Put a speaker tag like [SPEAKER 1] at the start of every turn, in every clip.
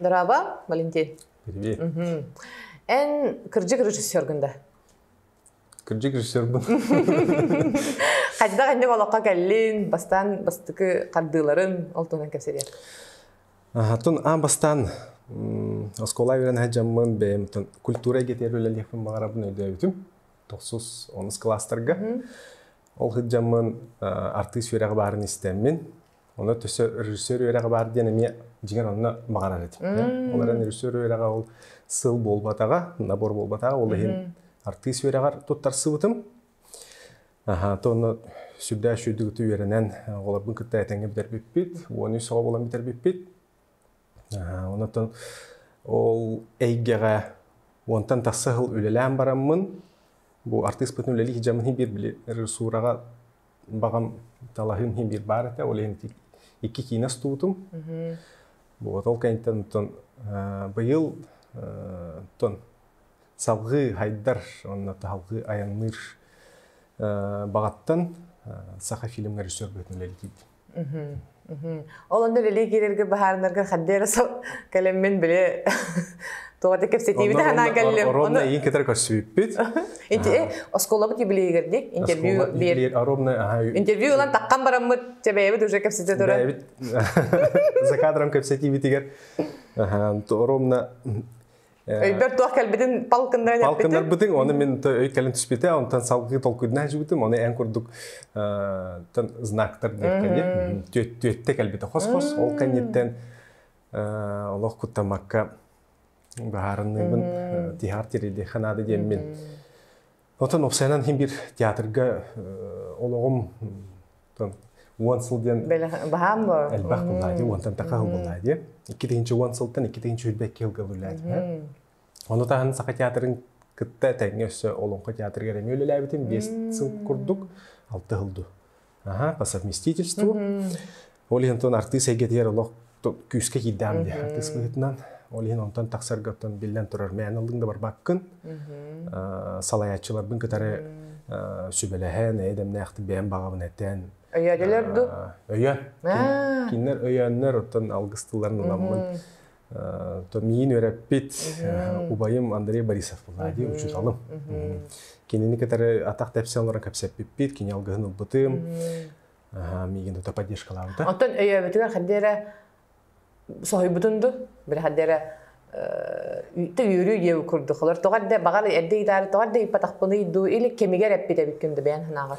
[SPEAKER 1] Драба, Валентин. Валентин. Эн кырдьык режиссергын да? Кырдьык режиссербын. Хайдах инде олоххо кэллин, бастаан бастыкы хардыыларын ол туһунан кэпсэтиэр. Хатын а бастаан оскуола үөрэн садьаммын бэйэм культура эгетиэр үлэлиэхпин баҕарабын өйдөөбүтүм. тохсус онус класстарга. Ол сыддьаммын артыыс үөрэҕи баарын истэммин, Оны төсө режиссер үөрэҕи баар диэн эмиэ дьиҥэр онно баҕарар этим. Олорон режиссер үөрэҕэ ол сыл буолбатаҕа, набор буолбатаҕа, ол иһин артыыс үөрэҕэр туттарсыбытым. Аха, то онно сүрдээх үчүгдүгүтү үөрэнэн оҕолорбун кытта этэҥҥэ бүтэрбиппит, уон үс оҕо буолан бүтэрбиппит. Онтон ол эйгэҕэ уонтан тахса сыл үлэлээн бараммын, бу артыыспытын үлэлии сылдьаммын иһин биир били режиссураҕа баҕам талаһыым иһин биир баар этэ, ол иһин икки киинэ устубутум. Вот ол кэнниттэн оттон быйыл оттон салгыы хайдар уонна салгыы айанныыр баҕаттан саха фильмҥэ режиссер быһыытын үлэлиир Ол онно үлэлии киирэргэ баһаарынарга хадды эрэ кэлэммин били тоҕо да кэпсэтиибит анаан кэллим. Оронно иин кытары көрсүбүппүт. Осколабыт юбилейгер диэк интервью биэр. Интервью ылан таққан бараммыт чэбэйэбит уже кэпсете туран. За кадром кэпсэтиибитигэр оромно Өйбөр туох кэлбитин палкыннаран эппитим. Палкыннарбытыҥ, оны мин өй кэлэн түспүтэ, онтон салгыы толкуйдана сылдьыбытым. Оны эн курдук знактар диэххэ түөттэ кэлбитэ хос-хос. Ол кэнниттэн олох куттамакка быһаарынныыбын. Тиһаар тириди ханаады диэммин. Оттон уопсайынан иһин биир театрга олоҕум уон сыл диэн баһаам буолар элбэх буоллаа дии уонтан таха сыл буоллаа дии икки тыһыынча уон сылтан икки тыһыынча сүүрбэ икки сылга үлэлээтим ону таһын саха театрын кытта тэҥҥэ өссө Олоҥхо театрыгар эмиэ үлэлээбитим биэс сыл курдук алта сыл ду Аһа, по совместительству. Ол иһин тон артыыс эйгэтигэр олох күүскэ киирдэҕим дии артыыс быһыытынан. Ол иһин онтон тахсарга оттон биллэн турар мээн аллыҥ да барбаккын. Салайааччыларбын кытары сүбэлэһэн, эйэ дэмнээхтик бэйэм баҕабын этэн. Өйөөдүлэр ду? Өйөөн. Кинилэр өйөөннөр, оттон алгыс тылларын ыламмын Миин өрөппүт, убайым Андрей Борисов Влади, учуталым. Кинини кытары атах тэпсе олорон кэпсэппиппит, кини алгыһын ылбытым. Миигин тута поддержкалаабыта. Оттон өйөөбүтүгэр ханды эрэ соһуйбутун ду, били ханды эрэ үтте үөрүү диэу курдук. Олор тоҕар да, баҕар эрдэ итаары тоҕар да ыппатахпыный дуу, или кэмигэр эппит эбиккин да бэйэн санааҕар.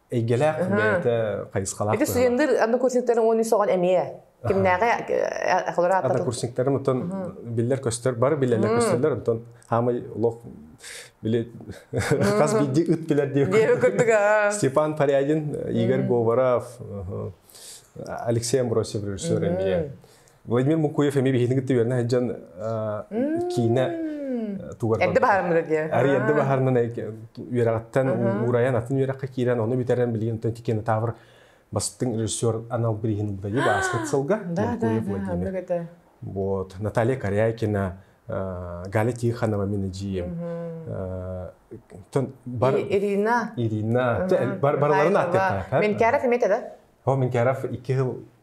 [SPEAKER 1] эйгэлээх бэйэтэ хайысхалаах ити студенттар аны курсниктарын уон үс оҕон эмиэ кимнээҕи однокурсниктарым оттон биллэр-көстөр бары билэлэр көстөллөр оттон хаамай олох били хас биирдии ыт билэр диэ Степан Парядин Игорь Говоров Алексей Амбросьев режиссер эмиэ Владимир Мукуев эми биһигини кытта үөрэнэ сылдьан киинэ тугар эрдэ баһармыра диэ арый эрдэ баһарынан үөрэҕиттэн уурайан атын үөрэххэ киирэн ону бүтэрэн билигин оттон тикиэн таабыр бастыҥ режиссер анал бирииһин ылбайы бааскыт сылга Мукуев Владимир вот Наталья Корякина Галя Тихонова мен дьием Ирина Ирина барыларын аттыта мен кәров имете да о мен кәров екі хыл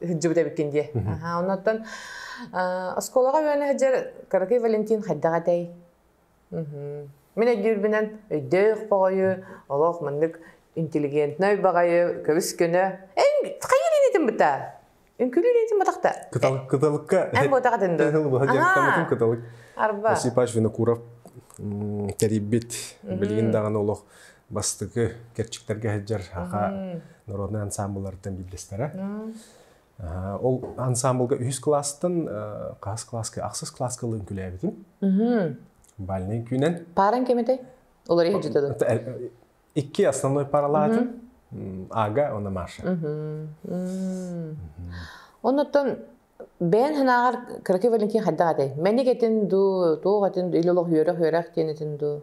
[SPEAKER 1] ыһыддьыбыт эбиккин дии. Аха, оннуттан оскуолаҕа үөнэ сылдьар Каракай Валентин хайдах этэй? Мин өйдүүрбүнэн өйдөөх боҕойу, олох маннык интеллигентнай баҕайы көбүскүнө эн хайыр инитин быта үҥкүлүү инитин батахта кытал кыталыкка эн буотаҕа тынды ыһыл быһа дьарыктаммытын кыталык арба Осипаш Винокуров тэрийбит билигин даҕаны олох бастакы кэрчиктэргэ сылдьар аха народнай ансаамбылларыттан биирдэстэрэ. Ол ансаамбылга үһүс класстан хас класска ахсыс класска ылын күлээбитим. Бальнай күүнэн. Паран кемитэй? Олар иһиджитэ Икки основной паралаатын Ага, она Маша. Оннуттан бээн ханааҕар кыракый валенкин хайдах атай? Мэник этин дуу, туох этин дуу, илолох үөрэх үөрэх диэн этин дуу?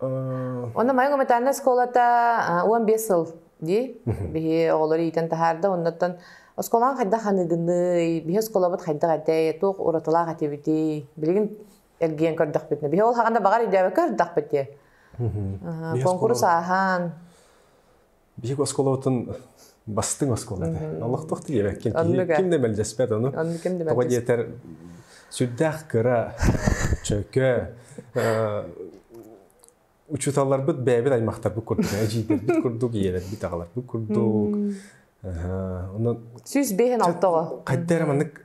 [SPEAKER 1] Онно Майа гуманитарнай оскуолата уон биэс сыл дии. Биһи оҕолору иитэн таһаарда, оннуттан оскуолаҕа хайдах аныгынный, биһи оскуолабыт хайдах этэй, туох уратылаах этибитий, билигин эргийэн көрдөхпүтүнэ, биһи ол хаҕанда баҕар өйдөөбөккө көрдөхпүт дии. Куонкурус ааһан, биһик оскуолабытын бастыҥ оскуола этэ. Олохтоох тириэбэккин ким да мэлдьэспэт ону. Тоҕо диэтэр сүрдээх кыра, чөкө, учууталларбыт бэйэбит аймахтарбыт курдук, эдьиийдэрбит курдук, ийэлэрбит аҕаларбыт курдук. Сүүс биэһин алтыҕа. Хайда эрэ маннык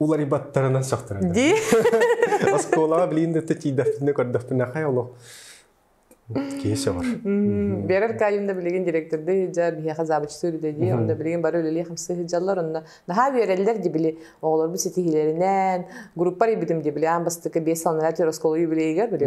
[SPEAKER 1] уларыйбаттарынан сөхтөрөр ди оскуолаҕа билин да тиийдэхтэринэ көрдөхтөрүнэ хай олох киһи сөҕөр берер кайымда билигин директорды хыжа биһиэхэ забычтыыр дэди онда билигин бары үлэлии хамсы хыжаллар онно наһаа үөрэллэр ди били оҕолорбут ситиһиилэринэн группар ибитим ди били аан бастакы бес саланара төр оскуола юбилейгар били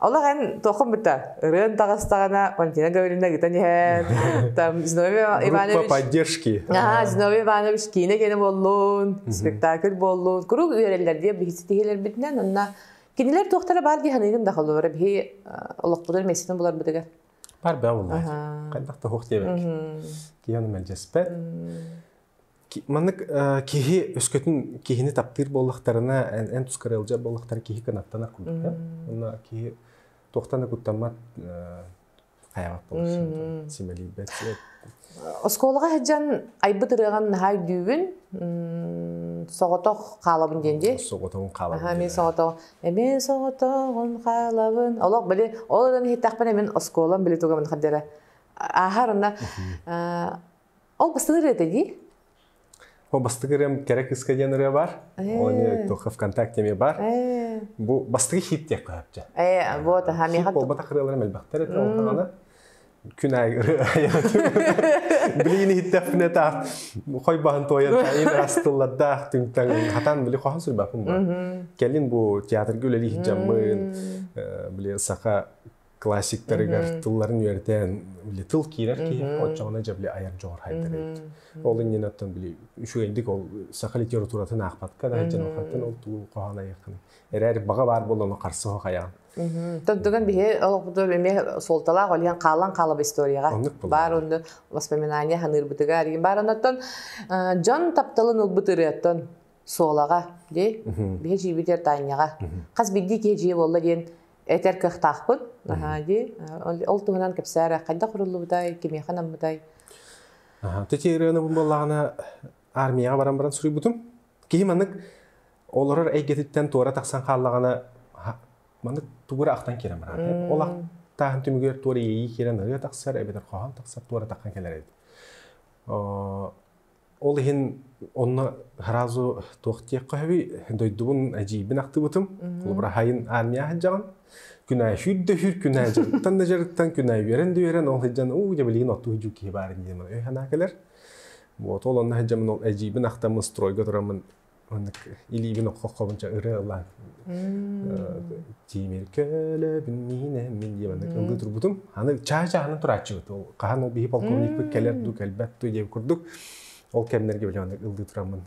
[SPEAKER 1] Олох эн туоххун быта? Ырыан таҕыстаҕына Валентина Гавриловна ыгытан иһэн там Зиновий Иванович поддержки. Аха Зиновий Иванович киинэ киэнэ буоллун, спектакль буоллун. Куруук үөрэллэр диye биһиттиһилэрбитинэн онна кинилэр туохтара баар дии саныыгын да холуора биһи олохпутун мессинин буларбытыгар. Бар баа булмаат. Хайдах тоһух диэбэк. Киһи оны мэлдьэспэт. Маннык киһи өскөтүн киһини таптыыр буоллахтарына, эн, эн туска ыалдьар буоллахтара киһи кынаттанар курдук. Уонна киһи туохтан да куттаммат хайаҕат болсун симэлийбэт. Оскуолаҕа сылдьан айбыт ырыаҕын наһаа өйдүүбүн. Соҕотох хаалабын диэн дии. Соҕотоҕун хаалабын. Эмиэ соҕотоҕун. Эмиэ соҕотоҕун хаалабын. Олох били ол ырыаны иһиттэхпинэ мин оскуолам били тугамын хардара ааһар онно Ол бастык ырыа дии? Ол бастык ырыам кэрэ кыска диэн ырыа бар. Ол эмиэ только ВКонтакте эмиэ бар. Бу бастык хит диэх көһөпчө. Ээ, вот, аха, миэхэ Буолбатах ырыаларым элбэхтэр этэ ол даҕаны. Күн аайы ырыа. Билигин иһиттэхпинэ таах хой баһын туойан таайын астыллардаах түҥтаң хатан били хоһун сүрбаппын бу. Кэлин бу театрга үлэлии жаммын, били саха классиктарыгар тылларын үөрэтэн били тыл киирэр киһи оччоҕуна дьэ били айар дьоҕурхайдар эбит ол иннинэ оттон били үчүгэйдик ол саха литературатын аахпатка да дьон хаттан ол тылын хоһоон айаххын эрээри баҕа баар буоллану харса хоһ айаҕын Тоттуган биһи олохпутур эмиэ суолталаах олиан хаалан хаалап историяҕа баар онду воспоминания ханыырбытыга аригин бар оноттон дьон тапталын ылбыт ырыаттан суолаҕа ди биһи жиибитер таанньаҕа хас биирдии киһи жиэ болла диэн этэр кыахтаахпыт наһаа дии ол туһунан кэпсээрэ хайдах құрыллыбытай кимиэхэ наммытай Тити ырыанабын боллаҕына армияға баран баран суруйбутум киһи маннык олорор эйгэтиттэн туора тахсан хааллаҕына маннык тугура ахтан киирэн бараат ол ахтааһын түмүгүгэр туора иэйии киирэн ырыа тахсар эбэтэр хоһоон тахсар туора таххан кэлэр еді Ол иһин онно сразу туох диэххэ сөбүй дойдубун эдьиийбин ахтыбытым. Холобура хайын аанньа сылдьаҕын. Күнээ сүүрдө-сүүр күнээ дьарыктан да дьарыктан, күнээ үөрэн да үөрэн, ол сылдьан уу дьэ билигин оттуу дьуу киһи баар дии санаа кэлэр. Вот ол онно сылдьамын ол эдьиийбин ахтаммын стройга тураммын Оннук илиибин окко-хобунча ыры ылаан тимир көлөбүн миинэммин диэн маннык ылыы турбутум. Аны чаһы-чаһынан турааччыбыт. Хаһан ол биһи полковникпыт кэлэр дуу, кэлбэт дуу диэн курдук. Ол кэмнэргэ билэ маннык ылыы тураммын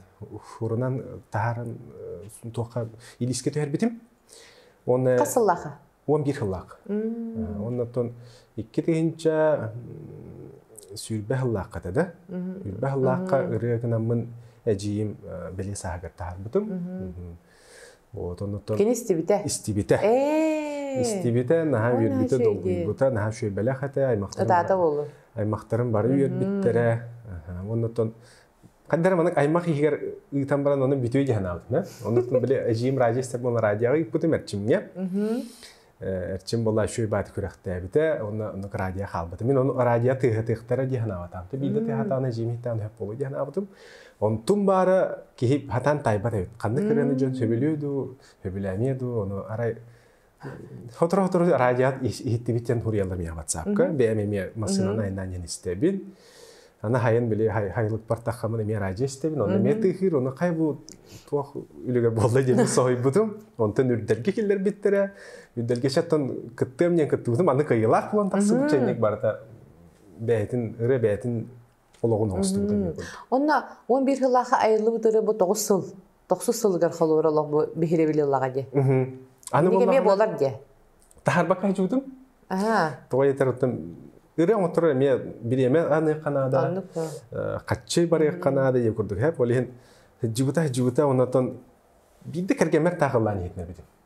[SPEAKER 1] урунан таһааран туохха илиискэ түһэрбитим. Уонна Хас сыллааха? уон биир сыллаах. Оннуттан икки тыһынча сүүрбэ сыллаахха да, сүүрбэ сыллаахха ырыа гынаммын эдьиийим бэлиэ сааһыгар таһаарбытым. Вот оннуттан Кини истибитэ. Истибитэ. Истибитэ, наһаа үөрбүтэ, долгуйбута, наһаа шүөбэлэх этэ, аймақтарым аймақтарым бары үөрбүттэрэ. Оннуттан Хандар манык аймах иһигэр ыытан баран оны бүтүө дии санаабытым. Онтон били эжиим радист буола радиоҕа ыыппытым эрчимҥэ. Эрчим буола үшүүй бааты күрэхтээбитэ, онно оннук радио хаалбытым. Мин оны радио тыыһатыахтара дии санаабатаҕым. Билде тыыһатаҕына эжиим иһиттэҕин сөп буолуо дии санаабытым. Онтум баара киһи хатаан тайбат эбит. Ханна кыраны дьон сөбүлүө дуу, сөбүлээмиэ дуу, ону арай Сотору-сотору радиат иһиттибит диэн хуруйаллар миэхэ ватсапка. Бэйэм эмиэ массыынаны айнаан диэн истэбин. Аны хайын били хайылык бартаххамын эмиэ радио истэбин. Ону эмиэ тыыһыыр, ону хай бу туох үлүгэр буолла диэн соһуйбутум. Онтон үрдэлгэ киллэрбиттэрэ. Үрдэлгэ чаттан кыттыам диэн кыттыбытым. Аны кыйылаах буолан тахсыбыт чайник барыта бэйэтин ыры бэйэтин олоҕун оҥостубута диэбит. Онно 11 сыллаахха айыллыбыт ыры бу 9 сыл, 9 сылыгар холуора олох бу биһирэбили ыллаҕа дии. Аны эмиэ буолар дии. Таһарбакка хачуутум. Аа. Тоҕай этэртим ыры оҥоттор эмиэ бириэмэ аныахха наада. Хаччы барыахха наада диye курдук. Хеп ол иһин жыбыта жыбыта оннан биирde кэргэммэр таахыллаан иһитинэбитим.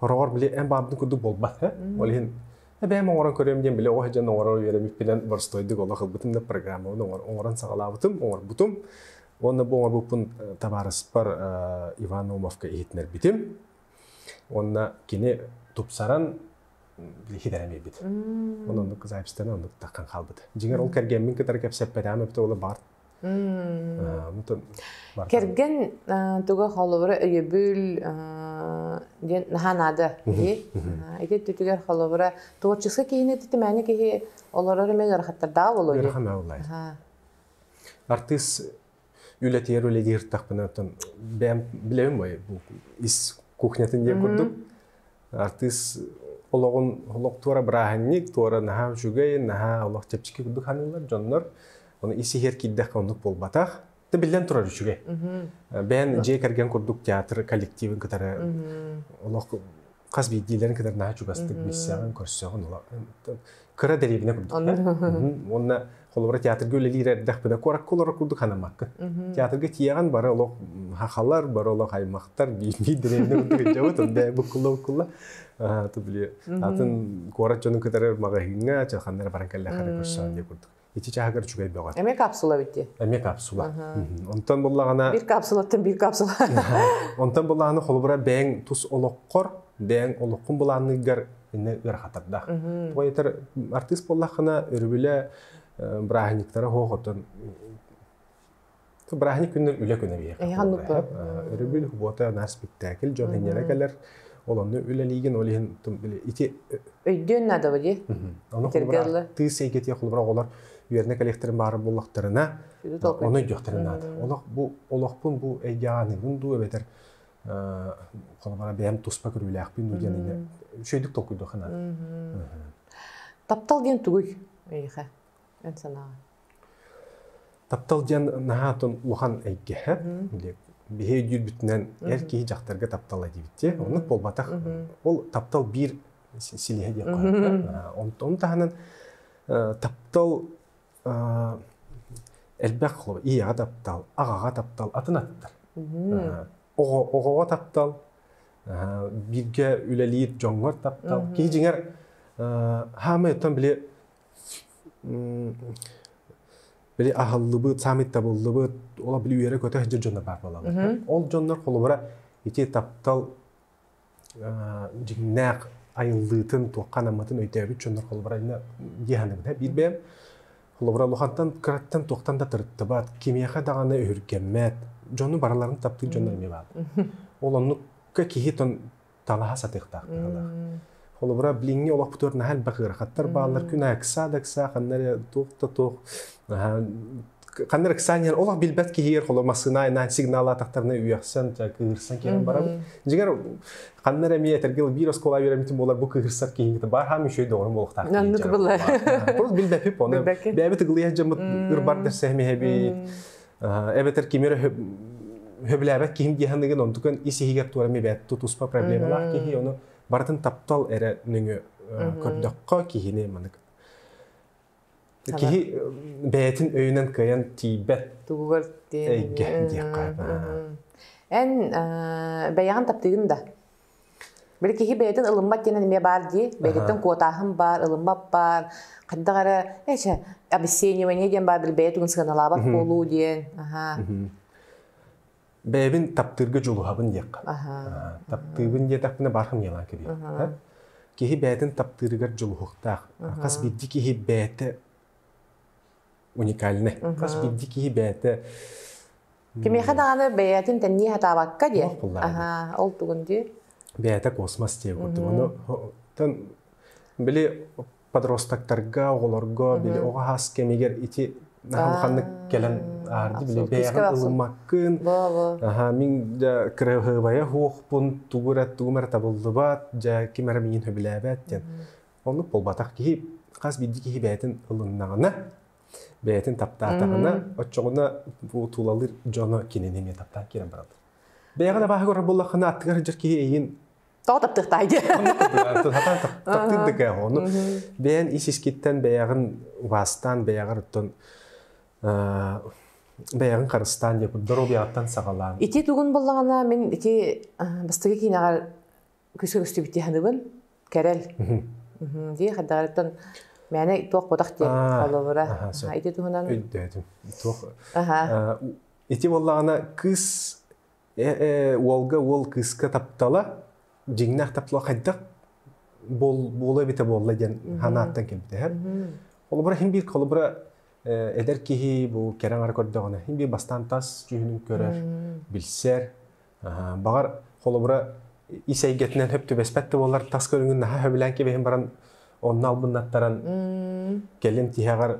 [SPEAKER 1] Ороҕор били эн бааммытын курдук буолбат ээ. Ол иһин эбээм оҥорон көрүөм диэн били оҕо сыдьан оҥорор үөрэбиппинэн боростуойдук олох ылбытым да программабын оҥорон саҕалаабытым, оҥорбутум. Уонна бу оҥорбуппун табаарыспар Иван Омовка иһитиннэрбитим. Уонна кини тупсаран хитэрэ биэрбит. Оны оннук записьтана оннук таххан хаалбыт. Дьиҥэр ол кэргэммин кытары кэпсэппэтэҕим эбитэ ол баар Кэргэн туга холобура өйөбүл диэн наһаа наада киһи. Ити өттүтүгэр холобура творчество киһини титимээни киһи олорор эмэ ыарахаттардаах болуо дии. Ыарахан бааллай. Артыыс үлэтигэр үлэлиир тахпына оттон бэйэм билэбин мой ис кухнятын диэн курдук артыыс олоҕун олох туора бырааһынньык, туора наһаа үчүгэй, наһаа олох чэпчэки курдук ханыылар дьоннор. Ону ис иһигэр киирдэххэ оннук буолбатах. Да биллэн турар үчүгэй. Бэйэн дьиэ кэргэн курдук театр коллективын кытары олох хас биирдиилэрин кытары наһаа чугастык билсэҕин, көрсөҕүн кыра дэриэбинэ курдук. Уонна Холобура, театрга үлэлиир эрдэхпинэ куоракка олорор курдук санаммаккын. Театрга тиийэҕин бары олох хахалар, бары олох аймахтар биирдии дэриэбинэ курдук өйдөөбөт, онда буккулла-буккулла. Ты били атын куорат дьонун кытары магазиҥҥа, чалханнара баран кэллэхэрэ көрсөн диэ курдук. Ити чааһыгар үчүгэй бөҕө. Эмиэ капсула бит диэн. Эмиэ капсула. Онтон буллаҕына... Биир капсулаттан биир капсула. Онтон буллаҕына холобура бэйэҥ тус олоххор, бэйэҥ олоххун былаанныыргар иннэ ыарахатардаах. Поэтер артыыс буоллаххына өрүбүлэ бырааһынньыктара хоохотон бырааһынньык күннэр үлэ күнэ биһиэхэ. Өрүбүл Бота наар спектакль дьон инньэлэ кэлэр. Ол онно үлэлиигин, ол иһин ити өйдүөн наадабы ди. Ону холбура тыыс эйгэтиэ холбура оҕолор үөрнэ коллекторын баары буллахтарына, оны өйдүөхтэрин наада. Олох бу олохпун бу эйгеаныгын дуу эбэтэр холобура бэйэм туспа көрүүлээхпин дуу диэн инде үчүгэйдик толкуйдуоххана таптал диэн тугуй эйиэхэ эн санааҕа таптал диэн наһаа атын улахан эйгэһэ биһи өйдүүрбүтүнэн эр киһи дьахтарга таптала диэбитти оннук буолбатах ол таптал биир силиһэ диэн онтон таһынан таптал элбэх ийэҕэ таптал, аҕаҕа таптал атын аттар. Оҕоҕо таптал, бииргэ үлэлиир дьоҥҥор таптал. Киһи дьиҥэр саамай оттон били били аһыллыбыт, саамай табыллыбыт, ол били үөрэ-көтө сылдьар дьоннор баар буолаллар. Ол дьоннор холобура ити таптал дьиҥнээх айыллыытын, туохха анаммытын өйдөөбүт дьоннор холобурайна дии саныыбын. Биир бэйэм холобура улахантан кыраттан туохтан да тырыттыбат, кимиэхэ даҕаны өһүргэммэт, дьону барыларын таптыыр дьоннор эмиэ бааллар. Ол оннукка киһи талаһа сатыахтаахтаах. Холобура, билиҥҥи олохпутугар наһаа элбэх ыарахаттар бааллар. Күн аакса да ыкса ханна эрэ туох да туох наһаа Ханна Рексаниан олох билбэт киһигэр холо массыына айнаан сигналаатахтарына үөхсэн, кыыһырсан киирэн барабын. Дьигэр ханна эрэ эмиэ этэргил биир оскуола үөрэммитим буолар бу кыыһырсар киһиҥҥэ баар хаам үчүгэй доҕорум буолуохтаах Маннык была. Просто билбэпип оны. Бэйэбит ыгылыйа дьаммыт ырбар дэрсэһимиһэбит. Эбэтэр кимер хөбүлээбэт киһим диэханыгын онтукан ис иһигэр туора мибэт тутуспа проблемалаах киһи ону барытын таптал эрэ нөҥө көрдөххө киһини манык Киһи бэйэтин өйүнэн кыайан тиийбэт. Тугугар эйгэ диэххэ. Эн бэйэҕин таптыгын да? Били киһи бэйэтин ылыммат диэн эмиэ баар дии. Бэйэтиттэн куотааһын баар, ылыммат баар. Хайдах эрэ эчэ обесценивание диэн баар били бэйэ тугун сыаналаабат буолуу диэн. Аха. бэйэбин таптыырга дьулуһабын диэххэ. таптыыбын диэтэхпинэ баар хамыйалаан кэбиһэр. Киһи бэйэтин таптыырыгар дьулуһуохтаах. Хас биирдии киһи бэйэтэ уникальнай. Хас биирдии киһи бэйэтэ Кимиэхэ даҕаны бэйэтин тэннии сатаабакка диэн. Аһаа, ол тугун дии. Бэйэтэ космос диэн курдук. Ону били подростоктарга, оҕолорго, били оҕо хаас кэмигэр ити улаханнык кэлэн аарди били бэйэҕин ылыммаккын. Аха, мин кырыһыбайа хуохпун тугу эрэ тугум эрэ табыллыбат, дьэ ким эрэ миин хөбүлээбэт диэн. Оннук буолбатах киһи хас биирдии киһи бэйэтин ылыннаҕына, бэйэтин таптаатаҕына, оччоҕуна бу тулалыыр дьоно кинини эмиэ таптаан киирэн бараллар. Бэйэҕэ да бааһы көрөр буоллаххына, аттыгар сылдьар киһи эйигин тоҕо таптыахтаай диye таптыыр да ону бэйэн ис искиттэн бэйэҕин убаастаан бэйэҕэр оттон бэйэҕин харыстаан диэ доруобуйаҕыттан саҕалаан ити тугун боллаҕына мин ити бастакы киинэҕэр көсөбүстүбүтти ханыбын кэрэл дии хайдаҕыттан мээнэ туох ботах диэн холобура ити туһунан өйдөөтүм туох ити боллаҕына кыыс Э-э, уолга уол кыыска таптала, дьиҥнээх таптала хайдах буола эбитэ буолла диэн санааттан кэмдэһэр. Холобура хин биир холобура э, эдэр киһи бу кэрэҥ ара көрдөҕүнэ хин биир бастаан тас дьүһүнүн көрөр, билсэр. Баҕар холобура ис эйгэтинэн хөп түбэспэт да буоллар тас көрүҥүн наһаа хөбүлээн кэбиһин баран онно албыннаттаран кэлин тиһэҕэр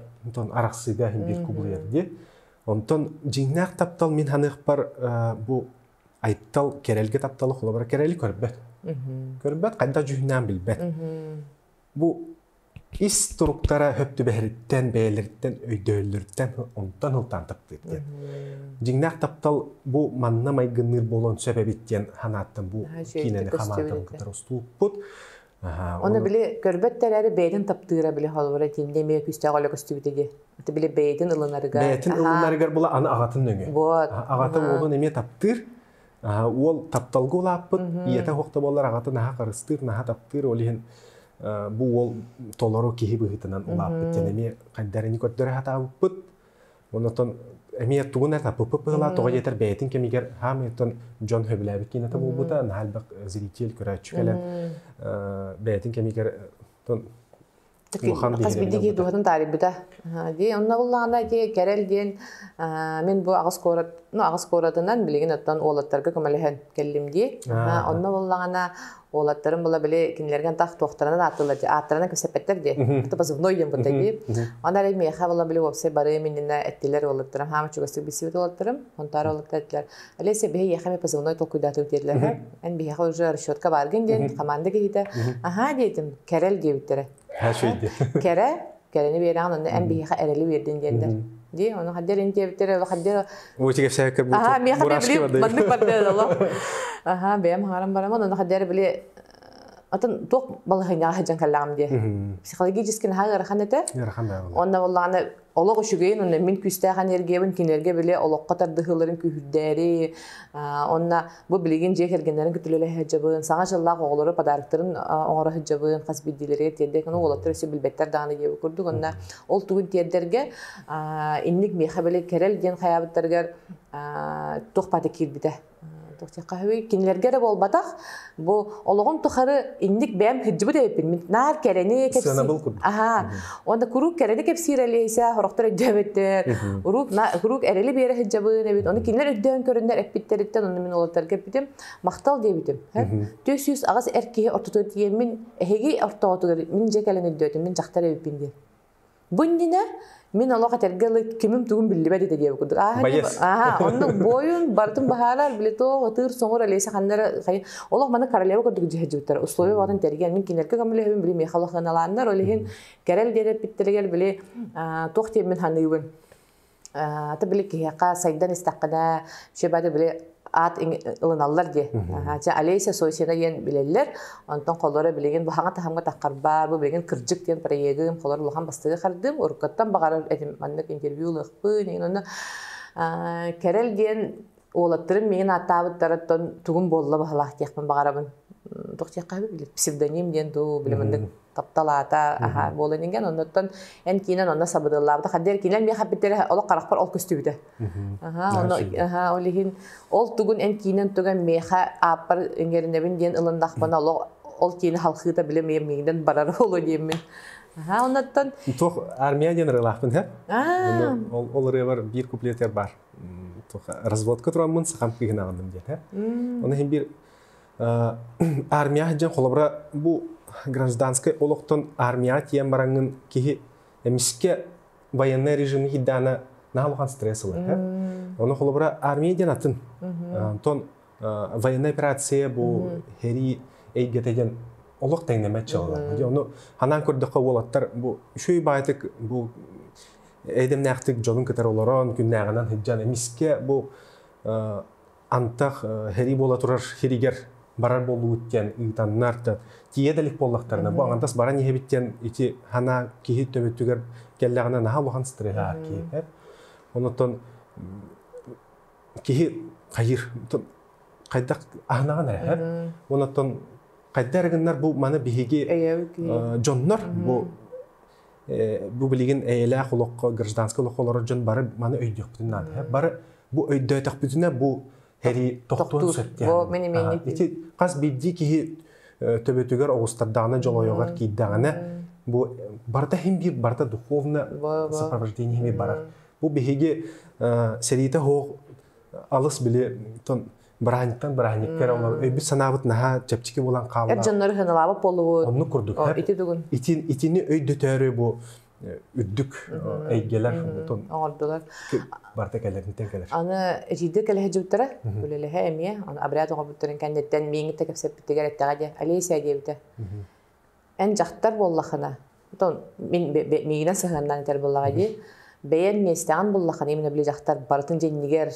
[SPEAKER 1] арахсыыга хин биир кубулуйар дии. Онтон дьиҥнээх таптал мин саныахпар бу Айтал Кэрэлгэ тапталы холобура Кэрэли көрбөт. Көрбөт хайдах дьүһүнээн билбэт. Бу ис туруктара хөптүбэһэриттэн бэйэлэриттэн өйдөөллөрүттэн онтон ылтаан таптыыр диэн. Дьиҥнээх таптал бу манна майгынныыр буолуон сөп эбит диэн санааттан бу киинэни хамаатан кытары уступпут. Оны били көрбөттөр эрэ бэйэтин таптыыра били холобура тимде эмиэ күүстээх олө көстүбүтэ ди. Били бэйэтин ылынарга. Бэйэтин ылынарыгар була аны аҕатын нөҥө. Вот. Аҕата уолун эмиэ таптыыр. Уол тапталга улааппыт, ийэтэ хохто болар аҕатын аһа харыстыыр, наһа таптыыр, ол иһин бу уол толору киһи быһыытынан улааппыт. Дэн эмиэ хайдарыны көрдөрө хатаабыппыт. Онотон эмиэ тугун эрэ пппыла тоҕо диэтэр бэйэтин кэмигэр хаамыйтан дьон хөбүлээбит киинэтэ буолбута наһаа элбэх зритель көрөөччү кэлэн бэйэтин кэмигэр хас биирдии дууһатын таарыйбыта дии онно буллаҕына ити кэрэл диэн мин бу аҕыс куорат ну аҕыс куоратынан билигин оттон уолаттарга көмөлөһөн кэллим дии онно буллаҕына Уолаттарын була били кинилэрген тах туохтарынан ааттылар дии. Ааттарынан кэпсэппэттэр дии. Кто позывной им будтай бип. Ана ре меха була били уопсай бары миннэ эттилер уолаттарым. Хама чугастык бисибит уолаттарым. Онтара уоллаттар эттилер. Алеся бихе яхаме позывной толкуйдатып диерлер. Эн бихе уже расчетка барген ден команда кейде. Аха диетим керел диебиттере. Ха шейде. Кере кэлэни биэрэҕин онно эн биһиэхэ эрэли биэрдин диэрдэр дии ону хаддер ин диэбиттэр ол хаддер Ой, сэһэккэ аха миэхэ били маннык бардыа олох аха бэйэм хаҥаран барамын ону хаддер били атын туох балаһыйнаҕа сыдьан каллаҕым диэ психологически наһаа ыарахан этэ ыарахан да онно боллааны олох үчүгэйин онно мин күүстээх энергиябын кинилэргэ били олоххо тардыһыыларын күүһүрдээри онно Бу билигин дьиэ кэргэннэрин кытта үлэлэһэ сылдьабын, саҥа дьыллаах оҕолору подарктарын оҥоро сылдьабын, хас биирдиилэригэр тиэрдэ. Ну, уолаттар өссө билбэттэр даҕаны диэбит курдук. Онно ол тугун тиэрдэргэ инник миэхэ били кэрэл диэн хайаабыттарыгар туох паата киирбитэ туохтахаһыый кинилэргэ эрэ буолбатах бу олоҕун тухары инник бэйэм кырдьыбыт эбиппин мин наар кэрэни кэпсиин аhaa Онда куруук кэрэни кэпсиир Олеся, сорохтор өйдөөбөттөр. Куруук куруук эрэли биэрэ сылдьабын эбит. Ону кинилэр өйдөөн көрөннөр эппиттэриттэн онно мин уолаттарга эппитим, махтал диэбитим. Түөс сүүс аҕас эр киһи ортотугар тиийэммин, эһиги ортоҕутугар мин дьэ кэлэн өйдөөтүм, мин дьахтар эбиппин диэн. Бу иннинэ мин олох этэргэ ыла кимим-тугум биллибэт ити диэбит курдук. Ааһа, оннук буойун барытын баһаарар, билет ытыыр соҥур Олеся ханнара Олох маны королева курдук дьиһэдьиттэр условия баҕатын тэрген мин кинилерге көмөлөһөбүн били миэхэ олохнаналаннар олиһин кэрэл диэн эппиттэригэр били туох диэммин ханыыбын ата били киһиэхэ сайдан истэххинэ шебады били аат ылыналлар дии ча олеся сойсина диэн билэллэр онтон холоро билигин баһаҥа таһамга таххарбар бу билигин кырдьык диэн проегым холор улахан бастыгы хардым уруккаттан баҕарар этим маннык интервью ылыахпын инна кэрэл диэн уолаттарым миигин ааттаабыттарыттан тугум буолла баһылаах диэхпин баҕарабын туох диэххэ били псевдоним диэн дуу били маннык таптал аата аха буолан инген оннуттан эн киинэн онно сабыдыллаабыта хаддыар киинэн миэхэ бүттэрэ олох харахпар ол көстүбүтэ аха ол иһин ол тугун эн киинэн туган миэхэ ааппар иҥэринэбин диэн ылындахпына олох ол киинэ халхыыта били миигинэн барара оло диэммин аха оннуттан туох армия диэн ырылаахпын һэ ол ырыабар биир куплетер бар разводка тураммын сахам кыыһын аҕынным диэтэ оны иһин бир армия дьэн холобура бу гражданскай олохтон армияға тиен бараңын киһи эмискэ военный режим хидана наалухан стресс ылар оны холобура армия диэн атын тон военная операция бу херии эйгете диэн олох тэҥнэмэт чалылар. Ону ханаан көрдөххө уолаттар бу үшөй баайтык бу эдемнээхтик дьонун кытары олорон күннээҕинэн сыдьан эмискэ бу антах херии буола турар хиригер барар болуут диэн ыытаннар да тиийэ да илик буоллахтарына бу ангантас баран иһэбит диэн ити хана киһи төбөтүгэр кэллэҕинэ наһаа улахан стресс аар киһи онуттан киһи хайыыр хайдах аһынаҕын эрэ онон хайда эрэ гыннар бу маны биһиги дьоннор бу бу билигин эйэлээх олоххо гражданскай олоххо олорор дьон бары маны өйдүөхпүтүн наада бары бу өйдөөтөхпүтүнэ бу эрий тохтуон сөп ити хас биирдии киһи төбөтүгэр оҕустардаҕына дьолойоҕор киирдэҕинэ бу барыта хим биир барыта духовно сопровождение хими барар Бу биһиги сэриитэ оһох алыс-били бырааһынньыктан бырааһынньыкка эрэ оҥор өйбүт-санаабыт наһаа чэпчэки буолан хаалла. Эр дьоннор ыһыналаабыт буоллубут. Оннук курдук. Ити тугун? Итини өйдөтөөрү бу үрдүк эйгэлэр оҥордулар. Барта кэлэрниттэн кэлэр. Аны эдьиийдэр кэлэ сылдьыбыттара, үлэлэһэ эмиэ, обряд оҥорбуттарын кэнниттэн миэҥитэ кэпсэппиттигэр эттэҕэ диэн Олеся диэбитэ. Эн дьахтар буоллахына, миигинэн сыһыаннаан кэл буоллаҕа дии. Бэйэн миэстэҕин буллаххына, мин били дьахтар барытын дьиҥнигэр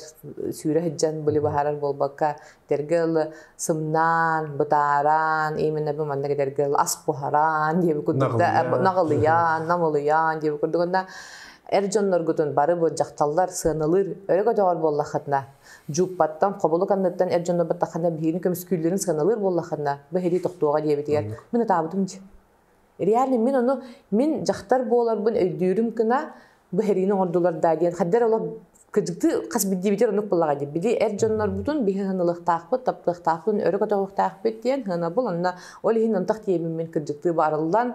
[SPEAKER 1] сүүрэ сылдьан били быһаарар буолбакка, этэргэ ылы сымнаан, бытааран, именно бу маннык этэргэ ылы ас буһараан диэбит курдук да наҕылыйаан, намылыйаан диэбит курдук эр дьонноргутун бары бу дьахталлар сыаналыыр өрө көтөҕөр буоллаххытына Дьууппаттан, хоболук-анныттан эр дьоно баттаххына биһигини көмүскүүллэрин сыаналыыр буоллаххына, бу эһэлии тохтуоҕа диэбитигэр, мин ытаабытым дии. Реально мин ону, мин дьахтар буоларбын өйдүүрүм гына, бу эһэлиини оҥордулар даа диэн, хаддар олох кырдьыктыы хас биирдиибитигэр оннук буоллаҕа дии. Били эр дьоннорбутун биһи ханылыахтаахпыт, таптыахтаахпыт, өрө көтөҕүөхтээхпит диэн сыанабыл. Онно ол иһин антах тиийэммин кырдьыктыы баарыллан,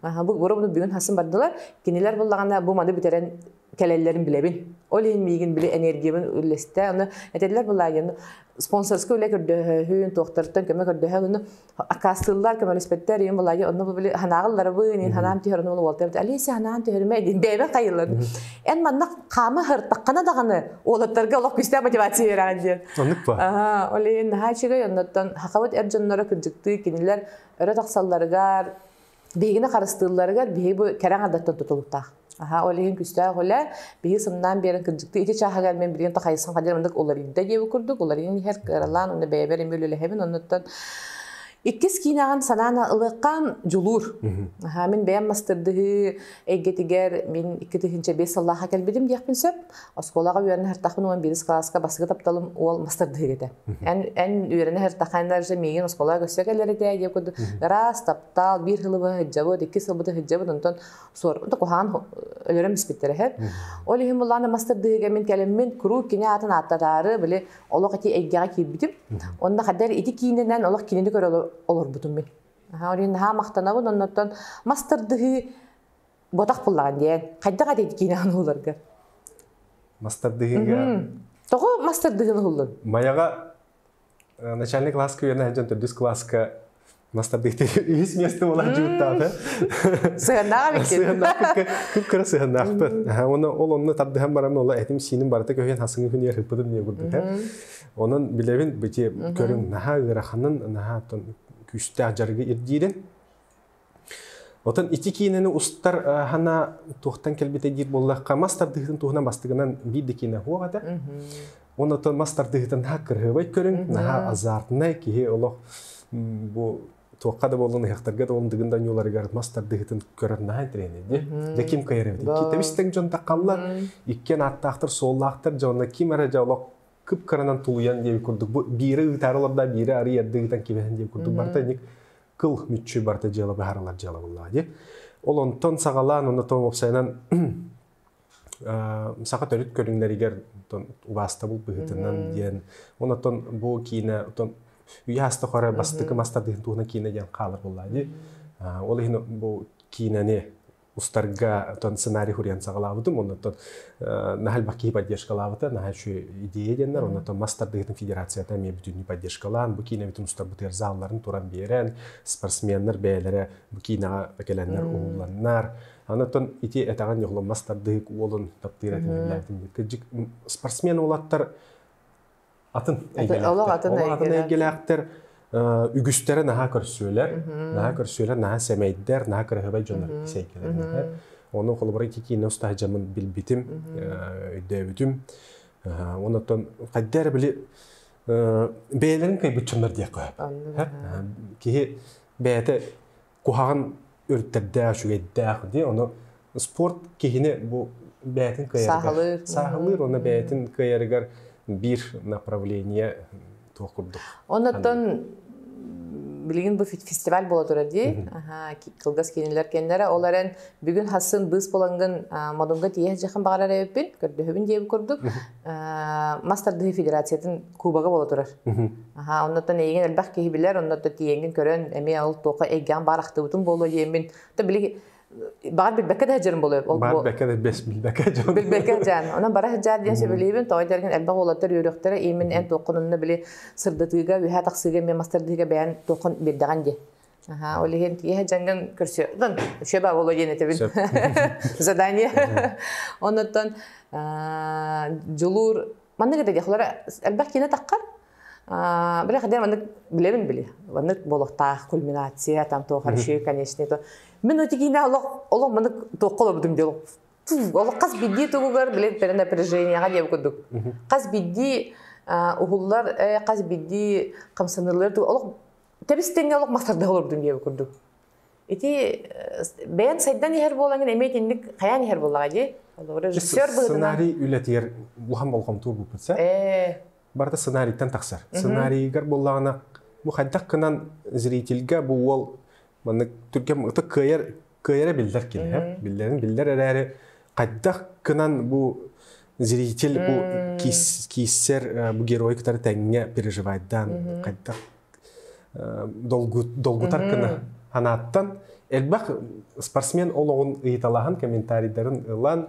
[SPEAKER 1] Аха, бу боробуну бүгүн хасын бардылар. Кинилэр буллаҕына бу маны бүтэрэн кэлэллэрин билэбин. Ол иһин миигин били энергиябын үллэстэ. Оны этэллэр булаайын спонсорскай үлэ көрдөһүүн, туохтарыттан көмө көрдөһөн, оны аккаастыыллар көмөлөспөттөр, иһин булаайы онно бу били ханаағылларабын, иһин ханаам тиһэрин ол уолтабыт. Алиса ханаан тиһэрме дин бэйбен кайыллар. Эн манна хаама хартаккана даҕаны олоттарга олох күстэ мотивация бераған диэн. Оннук па? Аха, ол иһин наһаа чыгай оннуттан хақабыт эр дьонноро күрдьүктүү кинилэр өрө тахсалларыгар Биһигини харыстыылларыгар биһи бу кэрэ ардаттан тутулуктаах. Аха, ол иһин күстээх үлэ, биһи сымнаан биэрэн кырдьыктыы ити чааһыгар мин билигин тахайсан хадьыр мындык уларыйда диэбит курдук, уларыйын иһэр кыралаан уонна бэйэбэр эмиэ үлэлэһэбин, оннуттан иккис киинэҕин санаан ылыахха дьулуур. Аха, мин бэйэм мастардыһыы эйгэтигэр мин икки тыһыынча биэс сыллааха кэлбитим диэхпин сөп. Оскуолаҕа үөрэнэ сыртахпын уон биирис кылааска басыгы тапталым уол мастардыһыга этэ. Эн эн үөрэнэ сыртахха эн же миигин оскуолаҕа көрсө кэлэритэ диэ курдук ыраас таптал биир сылыбы сылдьабыт икки сылбыты сылдьабыт онтон суорбута куһаан өлөрөн испиттэрэ һэр. Ол иһин буллаана мастардыһыга мин кэлэммин куруук кини аатын ааттатаары били олох эти эйгэҕэ киирбитим. Онно хадэр ити киининэн олох кинини көрө олорбутум мин. Аха, ол иһин наһаа махтанабын оннуттан мастардыһыы Ботах буллаҕын диэн, хайдах атыйт киинэҕин ууларга? Мастардыһыыга. Тоҕо мастардыһыын уһуллун? Майаҕа начальник класс күйэнэ сылдьан төрдүс класска мастардыыктык үһүс место болар дьууттаата. Сыһыаннаах эбиккин. Сыһыаннаах кыра сыһыаннаахпын. Оны ол онно тардыһан баран ола этим сииним барыта көһүн хасыңы хүнер хыппытым не курдута. Онон билебин бити көрүн наһаа ыараханын наһаа күүстээх жаргы ирдиирин. Отон ити киинэни устар аһана туохтан кэлбитэ диир буоллахха, мас тардыһыытын туһунан бастыгынан биир да киинэ суох этэ. Оны отон мас тардыһыытын наһаа кырыһыбай көрүҥ, наһаа азартнай, киһи олох бу туохха да боллун ыһыахтарга да боллун дыгын да ньууларыгар мас тардыһыытын көрөр наһаа интэриэһинэйди. Дьэ ким кыйар эбит. Тэбистең дьон таххаллар, иккиэн ааттаахтар, суоллаахтар, дьонно ким эрэ дьэ олох кып кыранан тулуйан диэби курдук бу биири ыытаары олорда, биири арыйарды ыытан кибэһэн диэби курдук барта инник кыл мүччү барыта дьыала быһаарылар дьыала буллаҕа дии. Ол онтон саҕалаан онно тоҥ уопсайынан саха төрүт көрүҥнэригэр убааста булбыһытынан диэн онотон бу киинэ отон үйэ аста хоре бастыкы мастардыһын туһуна киинэ диэн хаалар буллаа дии ол иһин бу киинэни устарга оттон сценарий хуруйан саҕалаабытым оннуттан наһаа элбэх киһи поддержкалаабыта наһаа үчүгэй идея диэннэр оннуттан мас тардыһыытын федерацията эмиэ бүтүннүү поддержкалаан бу киинэбитин устарбытыгар заалларын туран биэрэн спортсменнар бэйэлэрэ бу киинэҕэ кэлэннэр уһулланнар Анатон ити этэҕин йогломас тардыһык уолун таптыыр этим кыдьык спортсмен уолаттар атын эйгэлээхтэр. Олох атын эйгэлээхтэр үгүстэрэ наһаа көрсүөлэр, наһаа көрсүөлэр, наһаа сэмэйдэр, наһаа кыраһыабай дьоннор ис эйгэлэринэхэр. Оны холобура ити киинэ устаһа дьамын билбитим, өйдөөбүтүм. Онотон хайда эрэ били бэйэлэрин кайбыт дьоннор диэх кое. Киһи бэйэтэ куһаҕан өрүттэрдээх, үчүгэйдээх дии. Ону спорт киһини бу бэйэтин кыайарыгар сааһылыыр, уонна бэйэтин кыайарыгар биир направление туох курдук. Оннуттан билигин бу фестиваль буола турар дии. Кылгас кинилэр кэннэрэ ол эрэн бүгүн хассын быыс булангын модунга тиэхэ жахан баҕарар эбиппин көрдөһүбүн диэбит курдук. мас тардыһыы федерациятын кубога бола турар. Аха, оннуттан эйигин элбэх киһи билэр, оннуттан тиенгин көрөн, эми ол туоха эйгэм бар ахтыбытым буолуо диэмин. То били баҕар билбэккэ да сылдьарым болуо. Баар билбэккэ да бэс билбэккэ дьон. Билбэккэ дьаан. Онон бара сыдьаан диэн сөбүлэйбин, тоҕо дэрген элбэх уолаттар үөрөхтөрө иимин эн туоххун онно били сырдатыыга, үһэ тахсыыга мен мастардыыга бэйэн туоххун бирдэҕин дии. Аха, ол иһин киэһэ дьаҥгын көрсүөҕүн. Үшэ баа боло диэн этэбин. Задание. Оннуттан дьулуур маннык это диэхлара элбэх киинэ таххар. Бля хотя маннык билэрим били. Маннык болохтаах кульминация там то хорошо конечно то. Мен эти киинэ олох олох маннык туохха олорбутум диол. Олох хас бидди тугугар биле перенапряженияга диэб курдук. Хас бидди уһуллар хас бидди хамсаныылар олох Тэбистеҥҥэ олох мастардыһа олордум диэбит курдук. Ити бэйэн сайдан иһэр буолаҥын эмиэ итинник хайаан иһэр буоллаҕа дии. Режиссер быһыытынан сценарий үлэтигэр улахан болҕомту уурбуппут сэ. Барыта сценарийтан тахсар. Сценарийыгар буоллаҕына бу хайдах гынан зрительгэ бу уол маннык түргэн ытык кыайар кыайара биллэр кинилэр. Биллэрин биллэр эрээри хайдах кынан бу зритель бу кииссэр бу герой кытары тэҥҥэ переживайдаан хайдах долгутар кына анааттан элбэх спортсмен олоҕун ыйыталаһан комментарийдарын ылан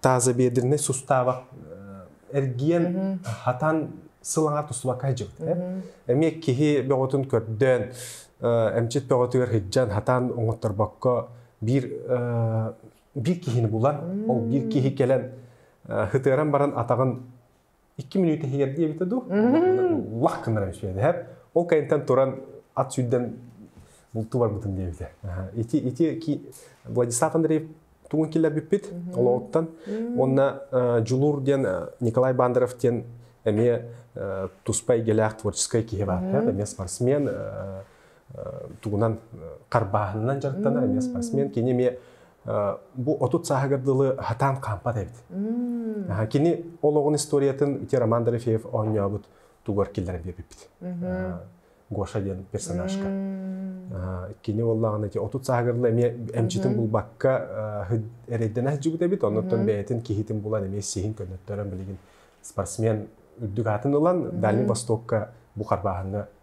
[SPEAKER 1] тазобедренный суставы эргиэн, хатан сылаҥа тустубакка иһдьибит. Эми киһи бөҕөтүн көрдөөн, эмчит бөҕөтүгэр хыджан, хатан оҥотторбокко биир биир киһини булан, ол биир киһи кэлэн хытыаран баран атаҕын 2 мүнүүтэ иһигэр диэбитэ дуу, лах гынара үчүгэй дэһэр. Ол кэнниттэн туран ат сүрдэн бултуу барбытын диэбитэ. Ити ити Владислав Андреев тугун киллэрбиппит олоҕуттан уонна Дьулуур диэн Николай Бандеров диэн эмиэ туспа эйгэлээх творческай киһи баар. Эмиэ спортсмен тугунан харбааһынынан дьарыктана, эмиэ спортсмен. Кини эмиэ Бу отут сааһыгар дылы хатаан хаампат эбит. Кини олоҕун историятын ити Роман Дорофеев оонньообут тугар киллэрэн биэрбиппит. Гоша диэн персонажка. Кини буоллаҕына ити отут сааһыгар дылы эмиэ эмчитин булбакка эрэйдэнэ сылдьыбыт эбит, оннуттан бэйэтин киһитин булан эмиэ сиһин көннөттөрөн билигин спортсмен үрдүк аатын ылан Дальний Востокка бу харбааһыҥҥа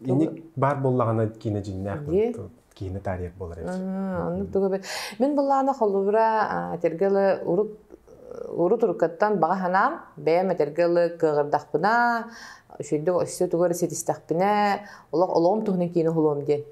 [SPEAKER 1] инник баар буоллаҕына киинэ дьиҥнээх киинэ тарих болар оннук туга бер мен былаана холубра тергелы урук уру турукаттан баҕа ханаам бэйэм этергелы кыгырдахпына үшүйдүк өссө тугар ситистахпына олох олоҕум туһунан киинэ хулуом диэн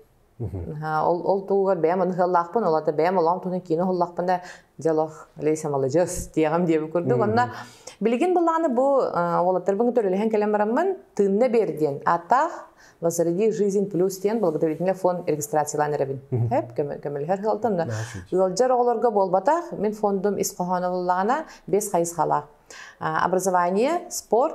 [SPEAKER 1] ол ол тугугар бэйэм ытыһаллаахпын олата бэйэм олоҕум туһунан кино аһыллахпын да дьолох Леся маладьыас диэҕим диэбит курдук онно билигин былааны бу уолаттарбын төлөлөһөн кэлэн бараммын тыынна биэр диэн ааттаах Возроди жизнь плюс диэн благотворительный фонд регистрациялаан эрэбин сөп көмөлөһөр ыалтан ыалдьар оҕолорго буолбатах мин фондум ис хоһооно буллаҕына бес хайысхалаах образование спорт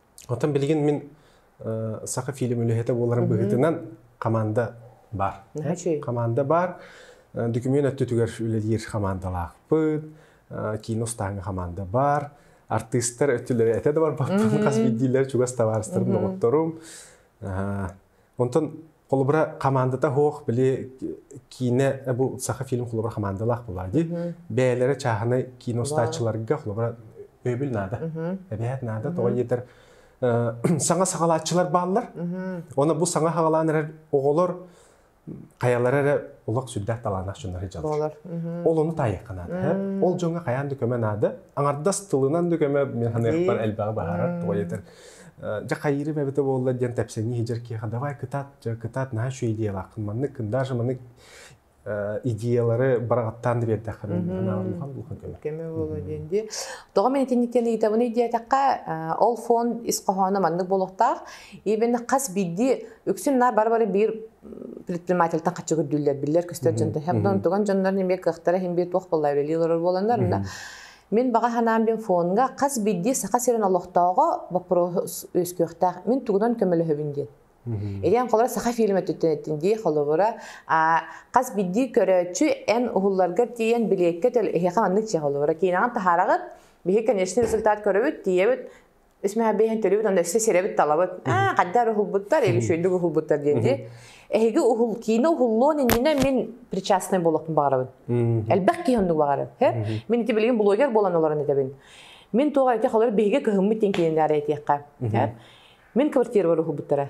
[SPEAKER 1] Оттон билигин мин саха фильм үлэһитэ буоларым быһыытынан хамаанда баар. Хамаанда баар. Документ өттүтүгэр үлэлиир хамаандалаахпыт. Кино устааҥҥа хамаанда баар. Артыыстар өттүлэрэ этэ да барбаттарын хас биирдиилэр чугас табаарыстарым, доҕотторум. Онтон холобура хамаандата суох, били киинэ бу саха фильм холобура хамаандалаах буолар дии. Бэйэлэрэ чааһынай кино устааччыларга холобура өйбүл наада. Эбэһэт наада тоҕо диэтэр саҥа саҕалааччылар бааллар. Оны бу саҥа саҕалаан эрэр оҕолор хаялары эрэ олох сүрдээх талаанах дьоннор дьаллар. Ол ону таайыққа наада. Ол дьоҥҥо хайаан да көмө наада. Аңардас тылынан да көмө мен ханыахпар элбэҕи баһарар. Тоҕо диэтэр дьэ хайыырым эбитэ буолла диэн тэпсэҥи иһдьэр киэхэ давай кытат дьэ кытат наһаа үчүгэй идеялаахпын маннык кындааш маннык идеялары бараҕаттаан да биэрдэххэ анаалын улахан улахан көмө көмө буолуо диэн дии тоҕо мен итинниктэн ыйытабын диэтэххэ ол фон ис хоһооно маннык буолуохтаах ибен хас биирдии үксүн наар бары бары биир предпринимательтан хаччы көрдүүллэр биллэр көстөр дьон тэһэх дон туган дьоннорун эмиэ кыахтара химбиэ туох болла үлэлии олорор буоланнар Мин баҕа санаам мин фоҥҥа хас биирдии Саха сирин олохтооҕо боппуруос үөскүөхтээх. Мин тугунан көмөлөһөбүн диэн. Итиэн холобура саха фильм өттүттэн эттин дии холобура хас биирдии көрөөччү эн уһулларгар тиийэн билиэккэ төл эһиэхэ маннык чиэ холобура киинэҕин таһаараҕыт биһи конечно результат көрөбүт тиийэбит Исмэхэбиэһин төрүбүт, өссө сирэбит талабыт. Аа, хайдар уһулбуттар, эбисөйдүк уһулбуттар диэки. Эһиги уһул, киинэ уһуллуон иннинэ мин причастный буолуохпун баҕарабын. Элбэх киһи оннук баҕарар. Мин ити билигин блогер буолан олорон этэбин. Мин туох этэх олор биһиги кыһыммыт диэн киинэлэр этиэххэ. Мин квартирабар уһулбуттара.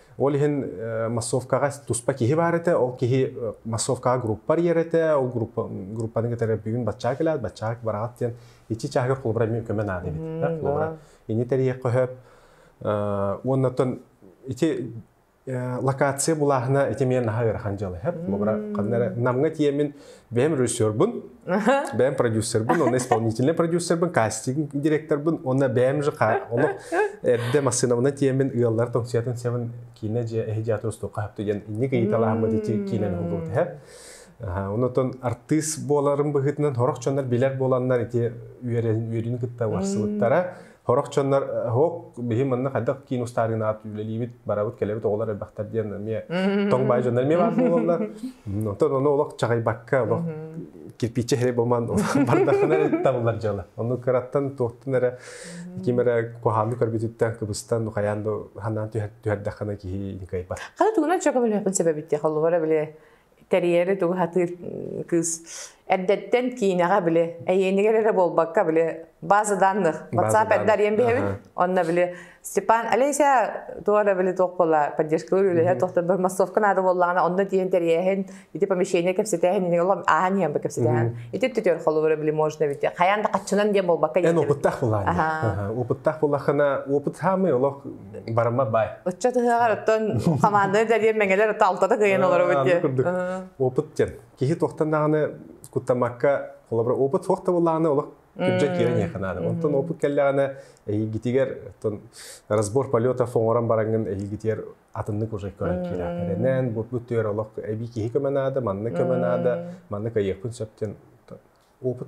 [SPEAKER 1] Ол иһин массовкаҕа туспа киһи баар этэ, ол киһи массовкаҕа группа арыйар этэ, ол группа группаны кытары бүгүн баччаҕа кэлээт, баччаҕа быраҕат диэн ичи чааһыгар холобура эмиэ көмө наада эбит. Холобура ини тэрийэ көһөөп уонна оттон ити локация булааһына ити эмиэ наһаа ыарахан дьыл эһэп. Холобура ханна эрэ Намҥа тиэмин бэйэм режиссербун, бэйэм продюсербун, онно исполнительный продюсербын, кастинг директорбун, онно бэйэм же ону эрдэ массыынабына тиэмин ыаллар тоҥсуятын севен киинэ дьиэ эһиджааты устуохха хапту диэн инник ыйыталаахыммыт ити киинэни холбуут эһэ. Онотон артыыс буоларын быһыытынан хорох дьоннор билэр буоланнар ити үөрүн кытта барсыбыттара Сорох дьоннор Оһуок, биһи манна хайдах киин устаарыынаҕа үлэлиибит, барабыт-кэлэбит оҕолор элбэхтэр диэн эмиэ тоҥ баай дьоннор эмиэ баар буолаллар. Оттон ону олох чаҕыйбакка, олох кирпииччэ иһэ буман бардахына табыллар дьыала. Ону кыраттан туохтун эрэ ким эрэ куһаанны көрбүтүттэн кыбыстан хайаан да ханаан түһэрдэххинэ киһи кыайбат. Хата тугунан чөкөбөлөөхпүн себебит диэх олугара били тэрийэри тугу хатыыр кыыс эрдэттэн киинэҕэ били эйиэнигэр эрэ буолбакка били база данных whatsapp эрдэ ариен биһэбит онно били Степан Олеся туора били туох буола поддержкалыыр үлэһэ тохторбор массовка наада буоллаҕына онно тиийэн тэрийэһин ити помещение кэпсэтээһин инигин олом ааһан иһэн кэпсэтээһин ити түтөр холобура били можно бити хайан да каччынан диэн буолбакка эн опыттах булаан опыттах булахына опыт саамый олох барыма бай. Ыччат ыһыаҕар оттон хамаанданы дэлиэн мэҥэлэр алтата кыйан олоробут диye. курдук. Опыт диэн. Киһи туохтан даҕаны куттамакка холобура опыт суох да буллаҕына олох күрдьэ киирэн иэханааны. Онтон опыт кэллэҕинэ эйигитигэр оттон разбор полетов оҥорон бараҥҥын эйигитигэр атыннык уже көрөн киирээхэринэн бу түөр олох эбии киһи көмө наада манна көмө наада манна кайыахпын сөп диэн опыт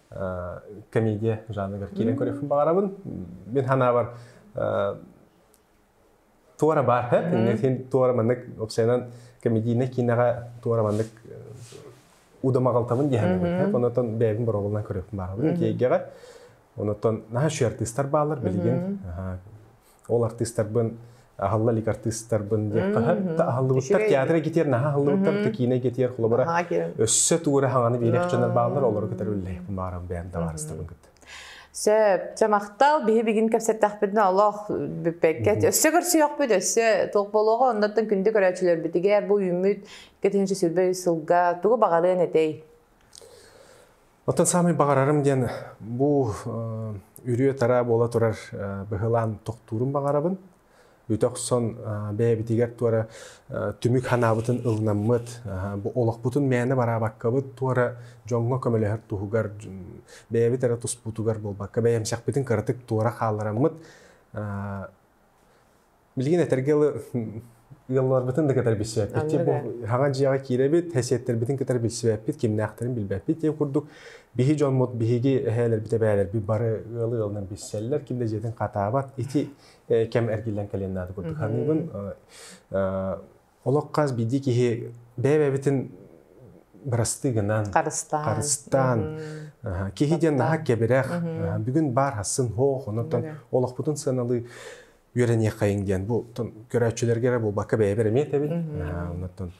[SPEAKER 1] комедия жанрыгар киирэн көрүөхпүн баҕарабын. Мин санаабар туора баар һэт. Иннэтин туора маннык обсайынан комедийнай киинэҕэ туора маннык удамаҕалтабын диэһэбит. Онотон бэйэбин бороҕолунан көрүөхпүн баҕарабын. Тиэйгэҕэ. Онотон наһаа үшү артыыстар баалар билигин ол артыыстарбын аһылла илик артыыстарбын диэн аһыллыбыттар театр китиэр наһаа аһыллыбыттар текиинэ китиэр холобура өссө туора хаҥаны биэрэх дьоннор бааллар олору кытары үллэһиэхпин баарам бэйэм табаарыстабын кытта Сөп. Чэ, махтал. Биһи бүгүн кэпсэттэхпитин олох бүппэккэт. Өссө көрсүөхпүт, өссө толк болуоҕа. Оннуттан күндү көрөөччүлөрбүтүгэр бу үүммүт кэтинчи сүрбэй сылга тугу баҕарыан этэй? Оттон саамай баҕарарым диэн бу үрүө-тараа буола турар быһылаан тохтуурун баҕарабын. Үтө охсон бэйэбитигэр туора түмүк ханаабытын ылынаммыт, бу олохпутун мээнэ бараабаккабыт туора дьоҥҥо көмөлөһөр туһугар бэйэбит эрэ туспутугар буолбакка, бэйэмсэхпитин кыратык туора хаалараммыт Билигин этэргэ ыла ыалларбытын да кытары билсибэппит. Икки бу хаҥа дьиэҕэ киирэбит, эсиэттербитин кытары билсибэппит, кимнээхтэрин билбэппит. Диэн курдук биһи дьоммут, биһиги эһээлэрбит, эбээлэрбит бары ыалы ыалынан билсэллэр, ким да дьиэтин хатаабат. Ити кэм эргиллэн кэлиэн наада курдук. Ханыыбын Олох хас биирдии киһи бэйэ-бэйэбитин бырастыы гынан харыстаан, харыстаан киһи диэн наһаа кэбирэх бүгүн баар хасын хоох онон олохпутун сыаналыы үөрэниэххэйиҥ диэн бу көрөөччүлэргэ эрэ буолбакка бэйэбэр эмиэ этэбин онон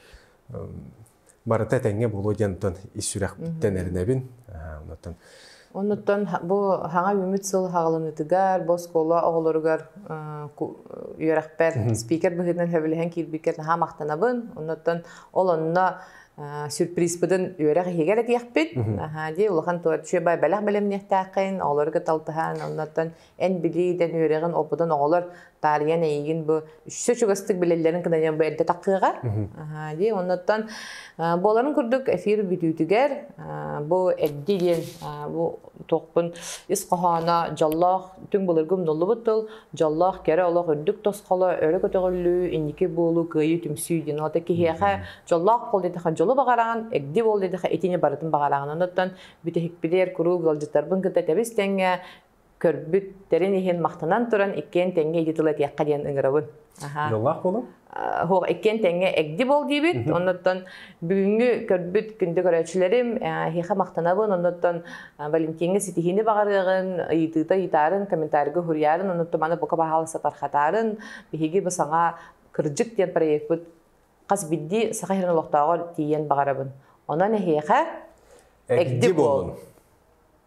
[SPEAKER 1] барыта этэҥҥэ буолуо диэн оттон ис сүрэхпиттэн эрэнэбин. Онтон Оннуттан бу саҥа үмүт сыл хаҕыланыытыгар, бу оскуола оҕолоругар үөрэхпэр спикер быһыытынан сөбүлэһэн киирбиккэр наһаа махтанабын. Оннуттан ол онно сюрпризпытын үөрэх иһигэр этиэхпит. Наһаа дии улахан туочү бэлэх бэлэмниэхтээххин, оҕолору кытта алтыһан, оннуттан Эн били итэн үөрэҕин опытын оҕолор таарыйан эйигин бу үссе чугастык билэллэрин кынайан бу эрдэ таххыаҕар. Дии, оннуттан буоларын курдук эфир бүтүүтүгэр бу эрди диэн бу туохпун ис хоһооно дьоллоох түҥ былыргы умнуллубут тыл дьоллоох кэрэ олох үрдүк тосхоло өрө көтөҕүллүү инники буолуу кыайыы түмсүү диэн олата киһиэхэ дьоллоох буол диэтэхэ дьолу баҕараҕын эрди буол диэтэхэ итини барытын баҕараҕын оннуттан бүтэһикпилэр куруук ыалдьыттарбын кытта тэбис тэҥҥэ көрбүт тэрин иһин махтанан туран иккиэн тэҥҥэ ити тыл этиэххэ диэн ыҥырабын. Дьоллоох буолуҥ. Хоһ иккиэн тэҥҥэ эгди бол диибит. Оннуттан бүгүҥҥү көрбүт күндү көрөөччүлэрим эһиэхэ махтанабын. Оннуттан Валентиҥҥа ситиһиини баҕарыаҕын, ыйытыыта ыйытаарын, комментарийга суруйарын, оннуттан маны бука баһаалыста тархатарын. Биһиги бу саҥа Кырдьык диэн проекпыт хас биирдии саха иһин олохтооҕор тиийэн баҕарабын. Онон эһиэхэ эгди болун.